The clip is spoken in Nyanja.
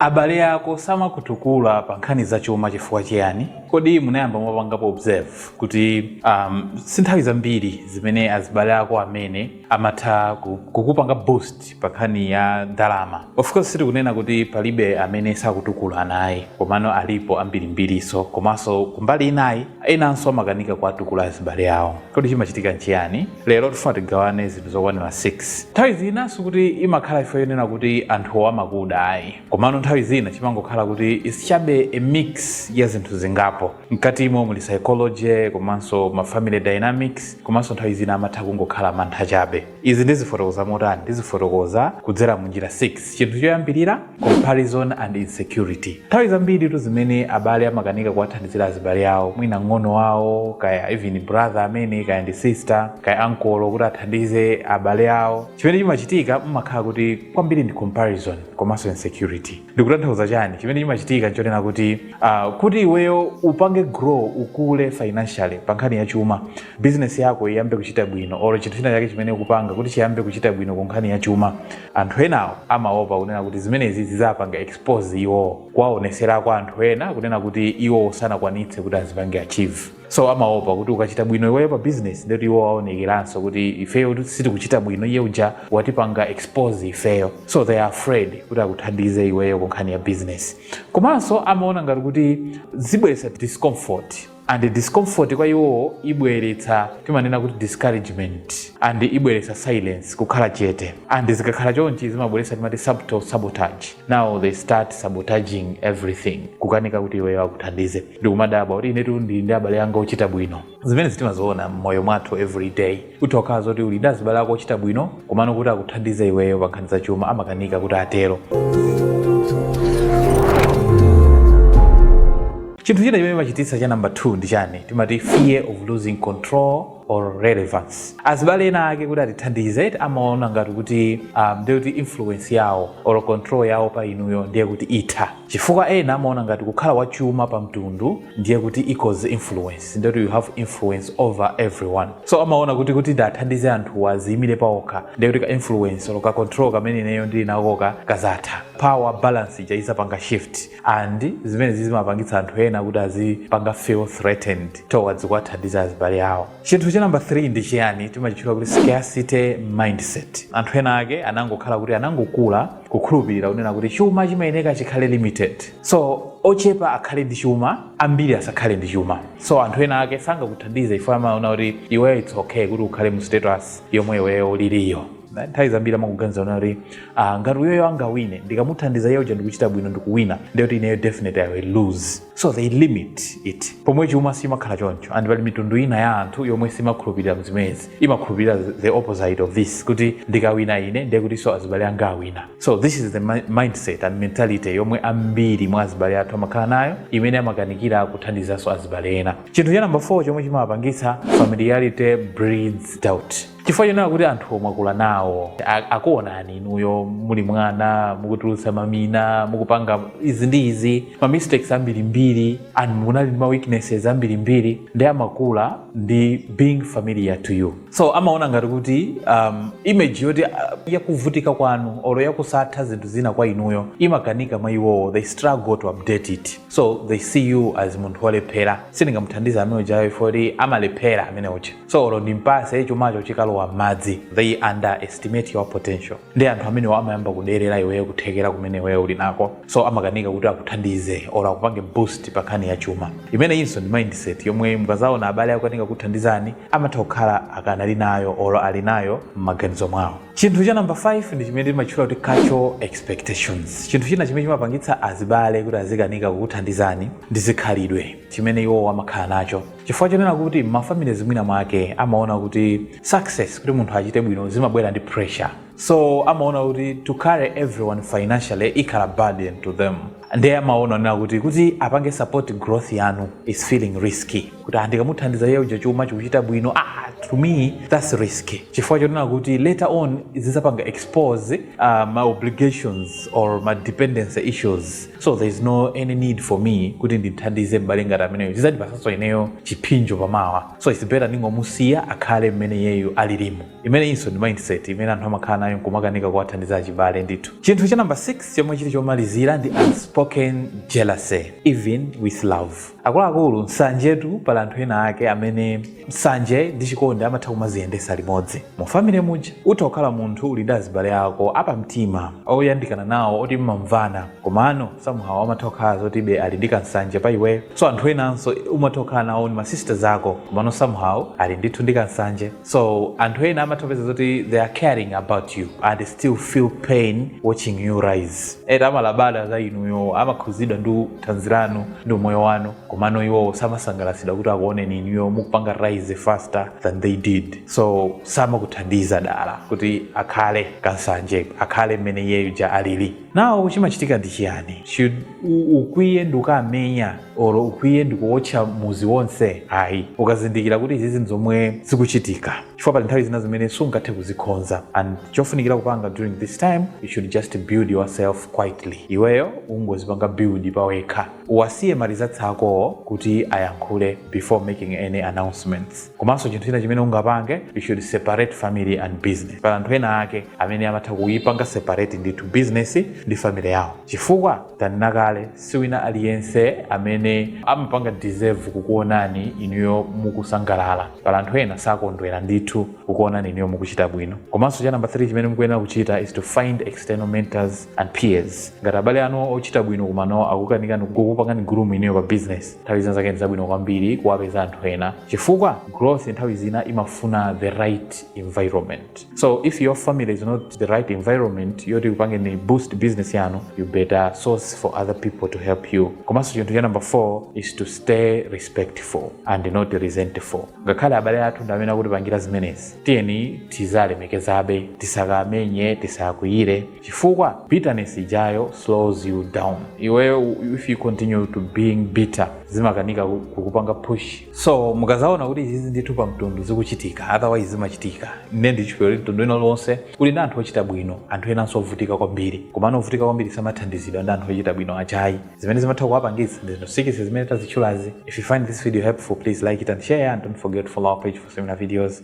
Abale ako samakutukula pa nkhani za chuma chifukwa chiyani? Kodi munayamba mwapangapo observe kuti um, si nthawi zambiri zimene azibale ako amene amatha ku- kukupanga boost pa nkhani ya ndalama? Of course sitikunena kuti palibe amene sakutukula ayi, komano alipo ambirimbirinso, komanso kumbali inayi Enanso amakanika kuwatukula azibale awo. Kodi chimachitika n'chiyani? Lero tifuna tigawane zinthu zokwanira 6. Nthawi zina sikuti imakhala chifukwa chonena kuti anthuwo amakuda ayi. Komano nthawi zina chimangokhala kuti is chabe a mix ya zinthu zingapo. Mkatimo muli psychology komanso ma family dynamics komanso nthawi zina amatha kungokhala mantha chabe. Izi ndizifotokoza motani? Ndizifotokoza kudzera mu njira 6. Chinthu choyambirira. comparison and insecurity nthawi zambiri tu zimene abale amakanika kuwathandizira azibale awo mwina ng'ono wawo kaya even brother amene kaya ndi sister kaya uncle kuti athandize abale awo chimene chimachitika mmakhala kuti kwambiri ndi comparison komanso insecurity ndikutanthauza chani chimene chimachitika nchonena kuti uh, kuti iweyo upange grow ukule financially pa nkhani ya chuma business yako iyambe kuchita bwino or chinthu china chake chimene ukupanga kuti chiyambe kuchita bwino ku nkhani ya chuma Anthu enawo amaopa kunena kuti zimenezi zizawapanga expose iwowo kuwaonesera kwa anthu ena kunena kuti iwowo sanakwanitse kuti azipange achieve so amaopa kuti ukachita bwino iweyo pa business ndeti iwo aonekeranso kuti ifeyo sitikuchita bwino iye uja watipanga expose ifeyo so they are afraid kuti akuthandize iweyo ku nkhani ya business komanso amaona ngati kuti zibweretsa discomfort and discomfort kwa iwowo ibweretsa timanena kuti discouragement and ibweretsa silence kukhala chete and zikakhala chonchi zimabweretsa timati subtle sabotage now they start sabotaging everything kukanika kuti iweyo akuthandize ndikumadabwa kuti inetu ndili ndi abale anga ochita bwino zimenezi timaziona mmoyo mwathu every day utha kukhala zoti uli ndi azibale ako ochita bwino komano kuti akuthandize iweyo pa nkhani za chuma amakanika kuti atero chinthu china chimene chimachititsa cha namba 2 ndi chani timati fear of losing control or relevance azibale ena ake kuti atithandize amaona ngati kuti um, ndiye kuti influence yawo or control yawo pa inuyo ndiye kuti itha chifukwa ena amaona ngati kukhala wachuma pa mtundu ndiye kuti equals influence ndoti you have influence over everyone so amaona kuti kuti ndithandize anthuwa aziyimire paokha ndiye kuti ka influence olo ka control kamene ineyo ndili nakoka kazatha power balance ija izapanga shift and zimenezi zimapangitsa anthu ena kuti azipanga feel threatened towards kuwathandiza azibale awo chinthu cha namba 3 ndi chiyani timachitchula kuti scarcity mindset anthu ena ake anangokhala kuti anangokula kukhulupirira kunena kuti chuma chimayeneka chikhale limited so ochepa akhale ndi chuma ambiri asakhale ndi chuma so anthu ena ake sangakuthandize ifo amaona kuti iweyo it's okay kuti ukhale mu status yomwe iweyo uliriyo nthawi zambiri amaganiza zonena kuti ah, ngati uyoyo angawine ndikamuthandiza iye uja ndikuchita bwino ndikuwina ndiye kuti ineyo definitely i will lose so they limit it pomwe chuma simakhala choncho ndi pali mitundu ina ya anthu yomwe simakhulupirira mzimezi imakhulupirira the opposite of this kuti ndikawina ine ndiye kutinso azibale anga awina so this is the mindset and mentality yomwe ambiri mwa azibale athu amakhala nayo imene amakanikira kuthandizanso azibale ena chinthu cha namba 4 chomwe chimawapangitsa familiarity breeds doubt chifukwa chonena kuti anthu omwe akula nawo akuonani inuyo muli mwana mukutulutsa mamina mukupanga izi ndi izi ma mistakes ambirimbiri and munali ndi ma weaknesses ambirimbiri ndi amakula ndi being familiar to you so amaona ngati kuti um, image yoti uh, yakuvutika kwanu olo yakusatha zinthu zina kwa inuyo imakanirira mwa iwowo they struggle to update it so they see you as munthu wolephera sindingamuthandiza amene ujayo ifoti amalephera amene uja so olo ndimpase chumacho chikalowa m'madzi they underestimate your potential ndi anthu amenewo amayamba kuderera iweyo kuthekera kumene iweyo uli nako so amakanika kuti akuthandize or akupange boost pa nkhani ya chuma imeneyinso ndi mindset yomwe mukazaona abale akukanika kukuthandizani amatha kukhala akanali nayo or ali nayo m'maganizo mwawo chinthu cha namba 5 ndi chimene timatchula kuti cultural expectations chinthu china chimene chimapangitsa azibale kuti azikanika kukuthandizani ndi zikhalidwe chimene iwowo amakhala nacho Chifukwa chonena kuti mmafamilies mwina mwake amaona kuti success kuti munthu achite bwino zimabwera ndi pressure. So amaona kuti to carry everyone financially ikhala burden to them. Ndiye amaona zonena kuti kuti apange support growth yanu is feeling risky. Kuti ah, ndikamuthandiza iye uja chuma chikuchita bwino ah to me that's risky. Chifukwa chonena kuti later on zidzapanga expose uh, ma obligations or ma dependency issues so there is no any need for me kuti ndimthandize m'bale ngati ameneyo zizandipatsanso ineyo chiphinjo pamawa so its better ndingomusiya akhale mmene iyeyo alilimo imeneyinso ndi mindset imene anthu amakhala nayo nkumakanika kuwathandiza achibale ndithu chinthu cha namba 6 chomwe chili chomalizira ndi unspoken jealousy even with love Akuluakulu, nsanjetu pali anthu ena ake amene nsanje ndi chikondi amatha kumaziyendesa limodzi. Mu family muja utha kukhala munthu uli ndi azibale ako apamtima oyandikana nawo oti mmamvana komano somehow amatha kukhala zoti be ali ndi ka nsanje pa iweyo. So anthu enanso umatha kukhala nawo ni ma sisters ako komano somehow ali ndithu ndi ka nsanje. so anthu ena amatha kupeza zoti they are caring about you and still feel pain watching you rise ena amalabada za inuyo amakhuzidwa ndi thanzi lanu ndi umoyo wanu komano iwowo samasangalatsidwa kuti akuoneni inuyo mukupanga rise faster than they did so samakuthandiza dala kuti akhale kansanje akhale mmene iyeyo uja alili nawo chimachitika ndi chiyani should u- ukwiye ndikukamenya or ukwiye ndikuotcha muzi wonse ayi ukazindikira kuti izizi nzomwe zikuchitika chifukwa pali nthawi zina zimene sungathe kuzikhonza and chofunikira kupanga during this time you should just build yourself quietly iweyo ungozipanga build pawekha uwasiye ma results akowo kuti ayankhule before making any announcements komanso chinthu china chimene ungapange you should separate family and business pali anthu ena ake amene amatha kuipanga separate ndithu business ndi family yawo chifukwa tanena kale siwina aliyense amene amapanga deserve kukuonani inuyo mukusangalala pali anthu ena sakondwera ndithu kukuonani inuyo mukuchita bwino komanso cha namba 3 chimene mukuyenera kuchita is to find external mentors and peers ngati abale anu ochita bwino komano akukanikani kukupangani groom inuyo pa business nthawi zina zake ndi zabwino kwambiri kuwapeza anthu ena chifukwa growth nthawi zina imafuna the right environment so if your family is not the right environment yoti ikupangeni boost business yanu you better source for other people to help you komanso chinthu cha number four is to stay respectful and not resentful ngakhale abale athu ndi amene akutipangira zimenezi tiyeni tiziwalemekezabe tisakamenye tisakwiyire chifukwa bitterness ijayo slows you down iweyo if you continue to being bitter zimakanika ku- kukupanga push so mukazaona kuti izizi ndithu pa mtundu zikuchitika otherwise zimachitika ine ndili believe kuti mtundu wina uliwonse kuli ndi anthu ochita bwino anthu enanso ovutika kwambiri komano ovutika kwambiri samathandizidwa ndi anthu ochita bwino aja ayi zimene zimatha kuwapangitsa ndi zinthu six zimene tazitchulazi if you find this video helpful please like it and share and don't forget to follow our page for similar videos